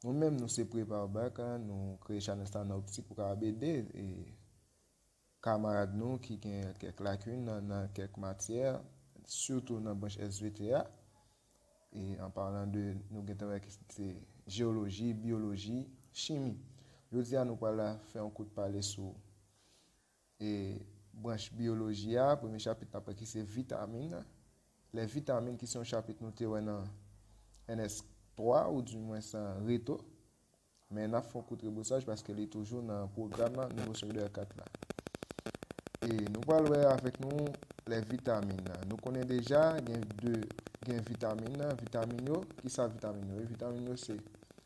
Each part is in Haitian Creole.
Nou menm nou se prepare back nou kreye chanèl sa nan optik pou kapab ede kamarad nou ki gen kèk lakin nan kèk matyè sitou nan branch svt a e an palan de nou gentan wè ki se jewoloji, byoloji, chimi. Jodi a nou pral fè yon kout pale sou E branch biyoloji a, premye chapit n ap wè ki se vitamin. Lè vitamin ki se yon chapit nou te wè nan NS 3 ou di mwens nan reto. Men n ap fè yon kou trebosaj paske li toujou nan pwogram nan nivo segondè 4 la. E nou pral wè avèk nou lè vitamin nan. Nou konnen deja gen 2 gen vitamin nan, vitamin yo, ki sa vitamin yo? Vitamin yo se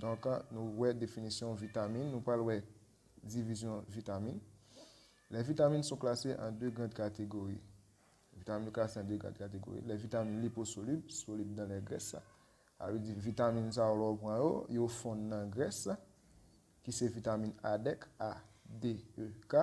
Donk, nou wè definisyon vitamin, nou pral wè divizyon vitamin. Lè vitamin sou klase an 2 grand kategori. Vitamin yo klase an 2 grand kategori. Lè vitamin liposolib, solib dan lè grès. A vle di vitamin sa yo lè ou pran yo, yo fon nan grès. Ki se vitamin A dek, A, D, E, K.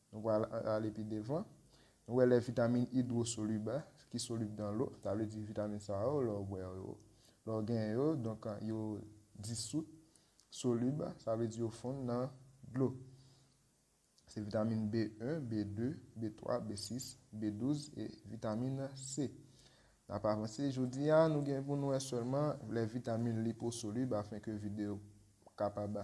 Nou pral ale pi devan. Nou wè lè vitamin idwosolib a, ki solib dan lo, sa vle di vitamin sa yo, lè w bwè yo, lè w genyen yo, donk yo disout, solib, sa vle di yo fonn nan dlo. Se vitamin B1, B2, B3, B6, B12 e vitamin C. N ap avanse. Jodi a, nou gen pou nou wè sèlman lè vitamin liposolib, afenke vide yo kapab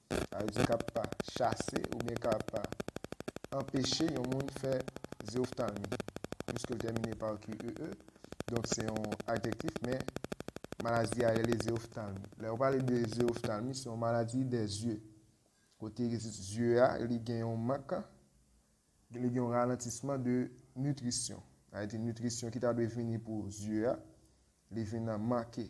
Sa vle di k ap chase oubyen k ap anpeche yon moun fè zeoftalmi, piske l tèmine pa qe, donk se yon adjektif men maladi a rele zeoftalmi. Lè yo pale de zeoftalmi, se yon maladi dè zye, kote zye a li gen yon mank, li gen yon ralantisman de nitrisyon. Sa vle di nitrisyon ki ta dwe vini pou zye a, li vin manke.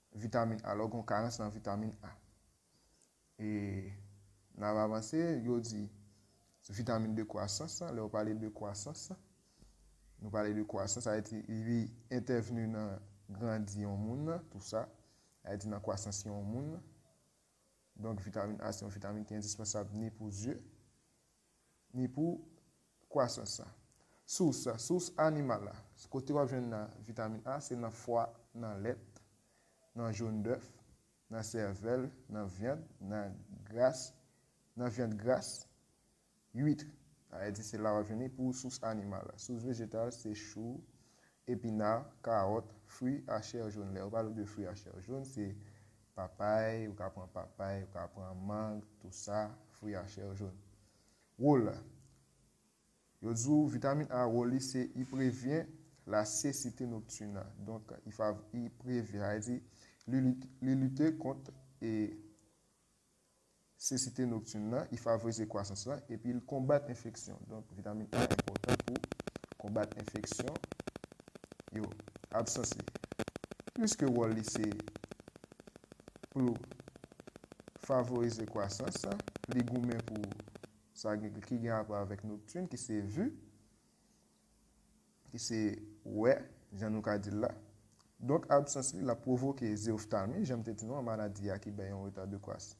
Vitamin A, lè w gen yon karans nan vitamin A. E n ap avanse, yo di vitamin de kwasans lan, lè yo pale de kwasans lan, nou pale de kwasans, sa vle di li entèvni nan grandi yon moun nan, tou sa, sa vle di nan kwasans yon moun nan. Donk vitamin A se yon vitamin ki endispansab ni pou zye, ni pou kwasans la. Sous, sous animal la, kote wap jwenn vitamin A se nan fwa, nan lèt, nan jaune d'oeuf, nan sèvèl, nan vyand, nan gras, nan vyand gras, huitre. Sa di se la wap jwenn li pou sous animal la. Sous vejetal se chou, epina, karòt, fwi a chè jaune. Lè yo pale w de fwi a chè jaune se Papay, ou ka pran papay, ou ka pran mang, tou sa, fwi a chè joun. Wòl a. Yo di w vitamin A wòl li se i prevyen la sesite noktuna. Donk i fav, i prevyen, sa vle di li lite kont e Sesite noktin lan, i favorize kwasans lan epi l konbat enfeksyon. Donk, vitamin A enpòtan pou konbat enfeksyon yo. Absans li, pliske wòl li se pou l favorize kwasans, li goumen pou sa ki gen rapò avèk noktin ki se vi. ki se wè, jan nou ka di l la. Donk absans li, l ap pwovoke zeoftalmi, jan m te di nou an, maladi a ki bay yon reta de kwasi,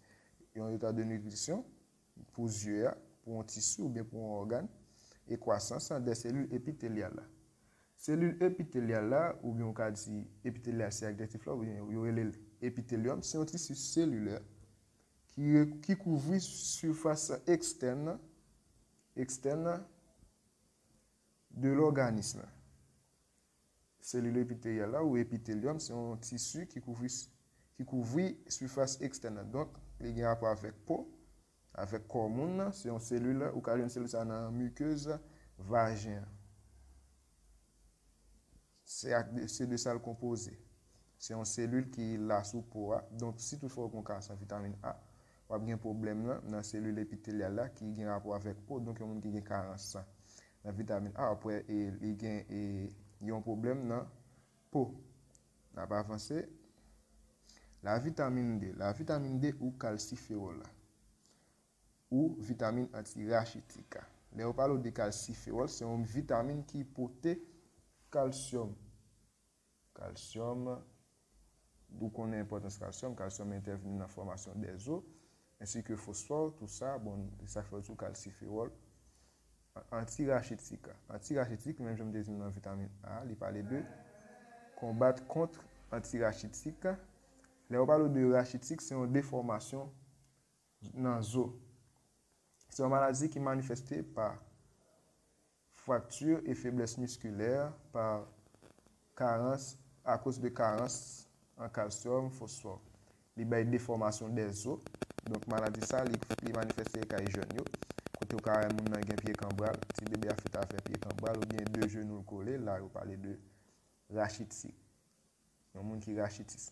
yon reta de nitrisyon pou zye a, pou yon tisi oubyen pou yon ògàn, e kwasans an dè selil epitelyal la. Selil epitelyal la, oubyen ou ka di epitelyal se adjektif la, oubyen yo rele l epitelyòm, se yon tisi selilè ki kouvri sifas ekstèn nan, ekstèn nan. de lòganis la. Selil epitelyal la ou epitelyòm se yon tisi ki kouvri ki kouvri sifas ekstèn nan. Donk, li gen rapò avèk po, avèk kò moun nan. Se yon selil, ou ka jwenn selil sa a nan mikez vajen an. Se ak de, se de sa l konpoze. Se yon selil ki la sou po a, donk si tout fwa ou gen yon ka san vitamin A, w ap gen pwoblèm lan nan selil epitelyal la ki gen rapò avèk po, donk yon moun ki gen karans san nan vitamin A w ap wè e li gen e yon pwoblèm nan po. N ap avanse. La vitamin D, la vitamin D ou kalsifewòl la. Ou vitamin anti rachitik. Lè yo pale w de kalsifewòl, se yon vitamin ki pote kalsyòm. Kalsyòm, ou konnen enpòtans kalsyòm, kalsyòm entèvni nan fòmasyon dè zo, ensi ke fosfò, tou sa, bon, se sa k fè yo di w kalsifewòl anti rachitik. Anti rachitik, menm jan m te di nou nan vitamin A, li pale de konbat kont anti rachitik. Lè yo pale w de rachitik, se yon defòmasyon nan zo. Se yon maladi ki manifeste pa frakti e feblès miskilè pa karans akoz de karans an kalsyòm, fosfò. Li bay defòmasyon dè zo. Donk maladi sa li li manifeste kay jèn yo. Kote ou ka wè moun nan gen pye kanbral, ti bebe a fèt avè pye kanbral oubyen de jenou l kole, la yo pale de rachitik. Yon moun ki rachitis.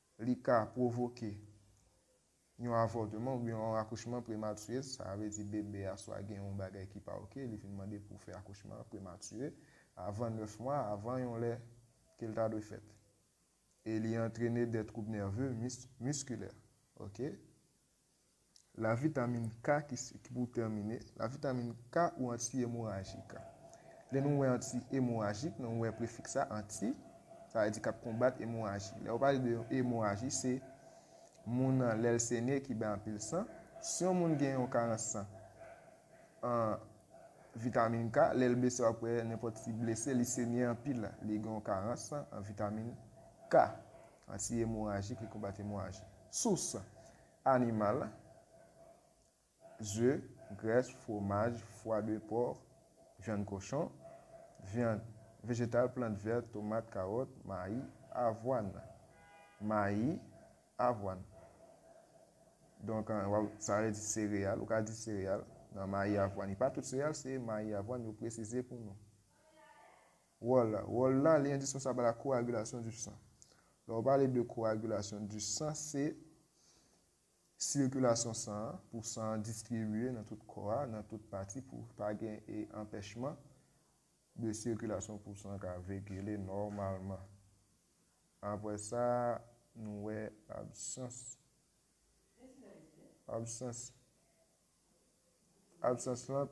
Li ka pwovoke yon avòteman oubyen yon akouchman prematire, sa vle di bebe a swa gen yon bagay ki pa ok, li vin mande pou fè akouchman an prematire, avan 9 mwa, avan yon lè ke l ta dwe fèt. E li antrene dè twoub nève, miskilè. Ok. La vitamin K ki pou tèmine, la vitamin K ou anti emorajik. Lè nou wè anti emorajik, nou wè prefiks la, anti, sa vle di k ap konbat emoraji. Lè yo pale de yon emoraji, se moun nan lè l senye ki bay anpil san. Si yon moun gen yon karans san an vitamin K, lè l blese w ap wè nenpòt ti blese li senye anpil, li gen yon karans san an vitamin K. Anti-emorajik, li konbat emoraji. Sous, Animal, ze, grès, fwomaj, fwa de pòr, vyann kochon, vyann, vejetal, plant vèt, tomat, kawòt, mayi, avwàn, mayi, avwàn. Donk, sa vle di sereyal, ou ka di sereyal, nan mayi, avwàn. E pa tout sereyal se mayi, avwàn yo presize pou nou. Wòl la. Wòl la, li endispensab a la koagilasyon di san. Lè ou pale de koagilasyon di san, se sikilasyon san an, pou san an distribye nan tout kò a, nan tout pati pou pa gen e anpèchman de sikilasyon pou san ka vekile nòmalman. Apre sa, nou wè absans. Absans. Absans lan.